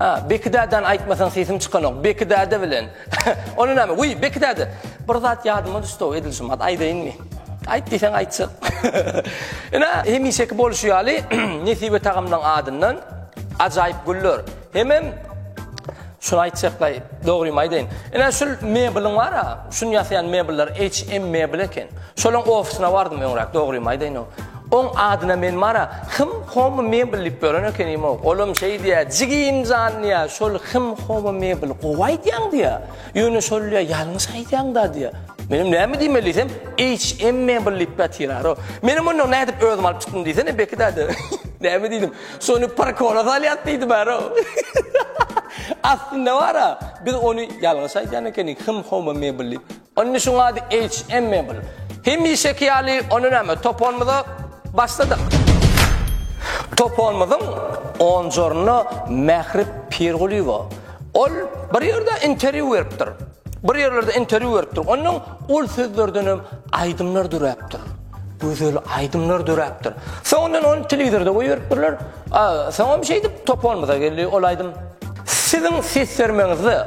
A, Beki dädäni aýtmasaň sesim çykanok. Beki däde bilen. Ony näme? Wiý, Beki däde. Bir zat ýadyma düşdi-ow, edil şu mat aýdaýynmy? Aýt diýseň aýtjak. Ine, hemişeki bolşy ýaly, Nesibe tagamlaň adyndan ajaýyp güller. Hemem şuny aýtjakda, dogrymy aýdaýyn. Ine, şul mebeliň bar-a, şuny ýasaýan mebeller HM mebel eken. Şolaň ofisyna bardym öňräk, dogrymy aýdaýynow. Oň adyna men Mara, Hym Home Mebel diýip ýören ekenimow. Olam şeý diýýä, Jigim jan diýýä, şol Hym Home Mebel gowy aýdýaň diýýä. Ýöne şol diýýä, ýalňyş aýdýaňda diýýä. Menem näme diýmeli diýsem, HM Mebel diýip ýatyrarow. Menem ondan nädip özüm alyp çykdym diýsene, Beki däde. Näme diýdim, şony parkona salýas diýdimärow. Aslynda bar-a, biz ony ýalňyş aýdýan ekenik, Hym Home Mebel diýip. Indi şuň ady HMMable. Hemişeki ýaly ony näme, toponymyza başladyk. Toponymyzyň onjorunda Mähri Pirgulyýewa. Ol bir ýerde interýu beripdir. Bir ýerlerde interýu beripdir. Ondan ol sözlerdenem aýdymlar döräpdir. Gözel aýdymlar döräpdir. Soňundan ony telewizorda goýberipdirler. Soňam şeýdip toponymyza geldi ol aýdym. Siziň ses bermeňizde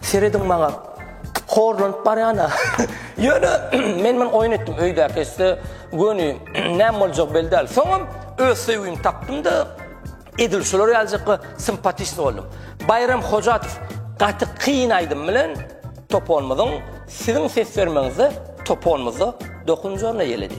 Serediň maňa horlanyp barýana. Ýöne men men oýun etdim öýdäki esse göni näme boljak belli däl. Soňam öz söýgimi tapdym-da edil şular ýaljykka sympatişni boldum. Baýram Hojatow gaty kyn aýdym bilen toponymyzyň siziň ses bermeňizde toponymyzda dokunjaryna ýeledi.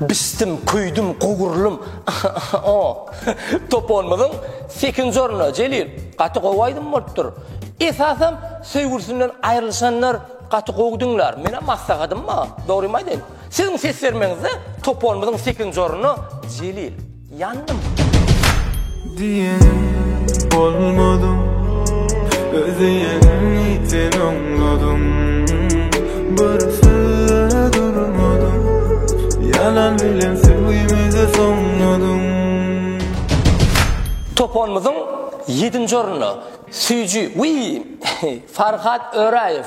Bisdim, küýdüm, gowurlym, ahy-ahy-o! Toponymyzyň sekinji orny, Jelil, gaty gowy aýdym bolupdyr. Esasam, söýgülisinden aýrylyşanlar gaty gowy diňlär. Menem maslahatym bar, dogrymy aýdaýyn, siziň ses bermegiňizde toponymyzyň sekinji orny, Jelil. Ýandym. Diýenim bolmady Özüýeňi sen oňladyň Bir söze durmadyň Ýalan bilen söýgimizi soňladyň Toponymyzyň ýedinji ornuna süýji wiý Farhat Öraýew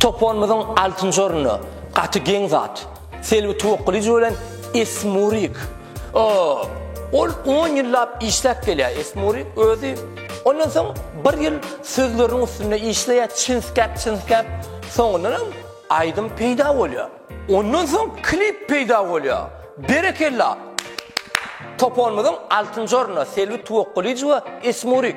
Toponymyzyň altynjy ornuna gaty geň zat, Selbi Tuwakgylyjowa bilen Esmurik. Ol on ýyllap işläp gelýär, Esmurik özi. Ondan soň bir ýyl sözleriniň üstünde işleýär, çinskäp-çinskäp, soňundanam aýdym peýda bolýar. Ondan soň klip peýda bolýar. Berekella! Toponymyzyň altynjy ornuna Selbi Tuwakgylyjowa, Esmurik.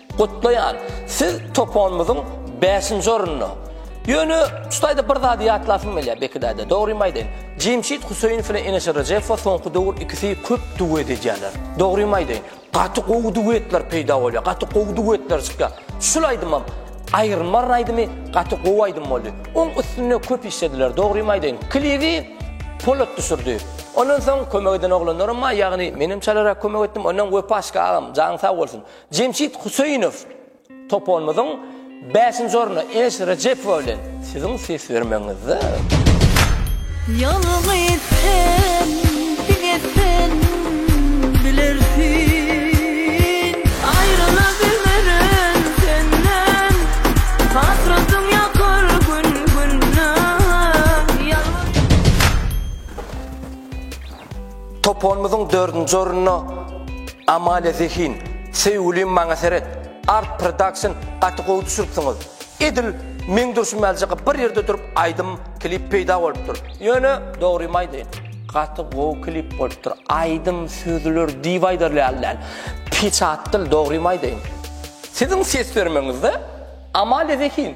Gutlaýan! Siz toponymyzyň bäşinji orunda. Ýöne şutaýda bir zady ýatlasym gelýär Bekidäde. Dogrymy aýdaýyn, Jemşit Huseýnow bilen Eneşir Rejepow soňky döwür ikisi köp duet edýärler. Dogrymy aýdaýyn, gaty gowy duetler peýda bolýar, gaty gowy duetler çykýar. Şul aýdymam, Aýrylmaryn aýdymy gaty gowy aýdym boldy. Oň üstünde köp işlediler. Dogrymy aýdaýyn, klibi Polat düşürdi. Ondan soň kömek eden oglanlarym bar, ýagny menem çalarak kömek etdim. Ondan Wepa Şka agam, janyň sag bolsun. Jemşit Huseýnow toponymyzyň bäşinji orny Eneş Rejepowa bilen. Siziň ses bermegiňizde. Ýalňyz sen, diňe sen bilersin. Aýryla bilmerin senden, hasratyň ýakar gün-günden. Ýalňyz. Toponymyzyň dördünji ornuna Amalia Zehin, Söýgülim maňa seret, Art Production gaty gowy düşüripsiňiz. Edil meň durşum ýaljak bir ýerde durup aýdym, klip peýda bolupdyr. Ýöne, dogrymy aýdaýyn, gaty gowy klip bolupdyr. Aýdym, sözler diýip aýdarly ýaly däl. Peçat dil, dogrymy aýdaýyn. Siziň ses bermegiňizde Amalia Zehin.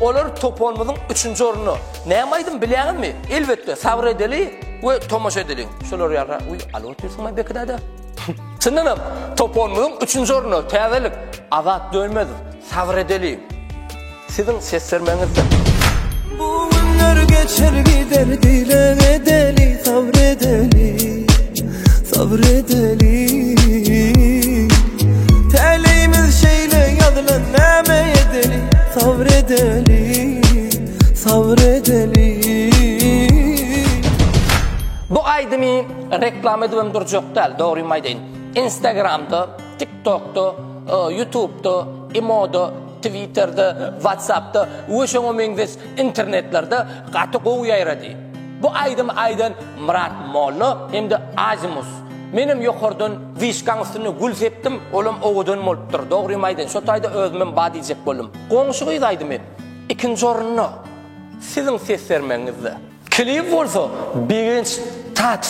Olar toparymyzyň üçünji ornuny näme aýdym bilýäňizmi? Elbetde, Sabyr edeli we Tomaşa edeliň. Şolar ýaly uý alyp otyrsyňmy Beki däde? Çyndanam, toparymyzyň üçünji ornuny täzelik Azat Dönmezow, Sabyr edeli. Siziň ses bermegiňizden. Bu günler geçer gider dileg edeli, sabyr edeli. Sabr edeli Täleyimiz şeýle ýazylan näme edeli Sabr edeli Sabr edeli Bu aýdymy reklama edip hem durjak däl, dogrymy aýdaýyn. Instagramda, TikTokda, e, YouTubeda, Imoda, Twitterde, WhatsAppda we şoňa meňzeş internetlerde gaty gowy ýaýrady. Bu aýdymy aýdan Myrat molla hem-de Azimus. Menem ýokardan wyşkaň üstünde gül sepdim, olam owadan bolupdyr. Dogrymy aýdaýyn, şo taýda özümem ba diýjek boldum. Goňşy gyz aýdymy ikinji orunda siziň ses bermegiňizde. Klip bolsa Begenç Tat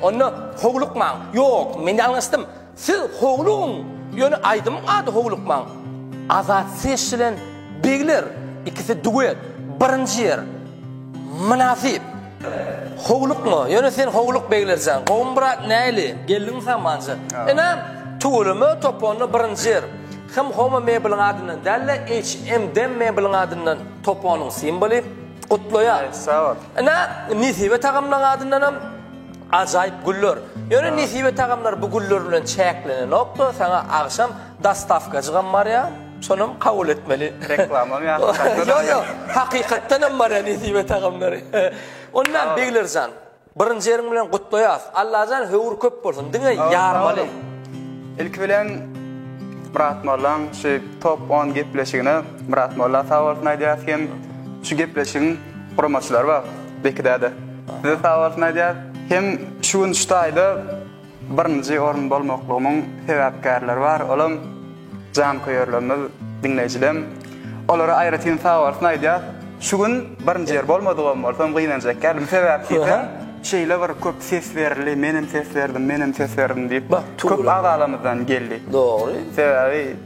Onda howlukmaň. Ýok, men ýalňyşdym. Siz howlugyň, ýöne aýdymyň ady Howlukmaň. Azat ses bilen Begler ikisi duet, birinji ýer. Mynasyp. Howlukma, ýöne sen howluk Begler jan. Gowmy brat, näli? Geldiňmi sen manja? Ynam, tüweleme, top onda birinji ýer. Him Home mebeliň adyndan däl-de, HM dem mebeliň adyndan, top onuň simboly. Gutlaýar. Sag bol. Ine, Nesibe tagamlaryň adyndan hem ajaýyp güller. Ýöne Nesibe tagamlar bu güller bilen çäklenenokda, saňa agşam dostawkajygam barýar. Şonam kabul etmeli. Reklamam ýa. Ýok, ýok. Hakykatdan hem barýar Nesibe tagamlary. Onda Begler jan. Birinji ýeriň bilen gutlaýas. Allajan höwür köp bolsun. Diňe ýarmaly. Ilki bilen Myrat Mollaň şu top on gepleşigine Myrat Molla sag bolsun aýdýas hem şu gepleşigiň guramaçylary bar Beki däde size sag bolsun aýdýas hem şu gün şu taýda Birinji orun bolmaklygymyň sebäpkärleri bar, olam janköýerlerimiz, diňleýjilem. Olara aýratyn sagbolsun aýdýas. Şu gün birinji ýer bolmadygym bolsam gynanjak däldim. Sebäp diýseň, şeýle bir köp ses berildi, menem ses berdim, menem ses berdim diýip, köp agalamyzdan geldi. Dogry. Sebäbi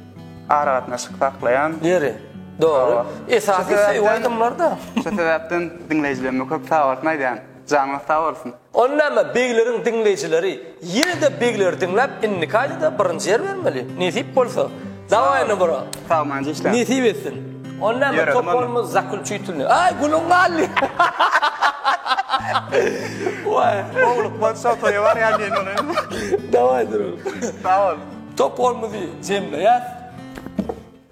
aragatnaşyk saklaýan. Ýeri. Dogry. Esasy söýgi aýdymlarda. Şu sebäpden diňleýjilerime köp sagbolsun aýdýan. Janyňyz sag bolsun. Ony näme begleriň diňleýjileri ýene-de begleri diňläp indiki aýda-da birinji ýer bermeli. Nesip bolsa. Dawaý indi bro. Sagmanja işläň. Nesip etsin. Ony näme toparymyz zakulçitulny. Aý guluň galdy. Waý. Gowy lukman şo toýa barýan diýen ýaly. Dawaý durun. Sag bol. Toparymyzy jemleýäs.